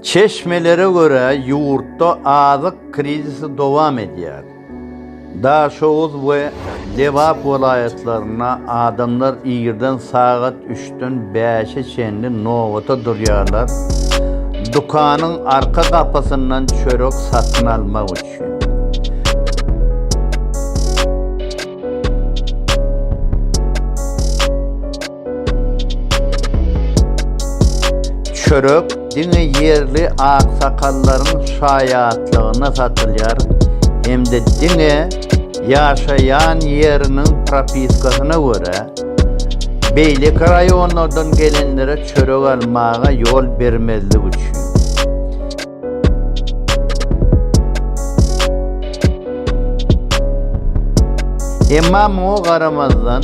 Çeşmelere görä, ýurtda azyk krizisi dowam edýär. Daşoguz we Lebap welaýatlarynda adamlar irden sagat üçden bäşe çenli nobata durýarlar, dükanyň arka gapysyndan çörek satyn almak üçin. Çörek diňe ýerli aksakallaryň şaýatlygyna satylýar hem-de diňe ýaşaýan ýeriniň propiskasyna görä, beýleki raýonlardan gelenlere çörek almaga ýol bermezlik üçin. Emma muňa garamazdan,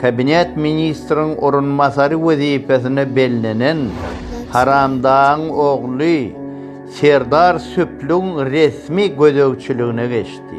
Kabinet ministriň orunbasary wezipesine bellenen Haramdagyň ogly Serdar Söplügiň resmi gözegçiligine geçdi.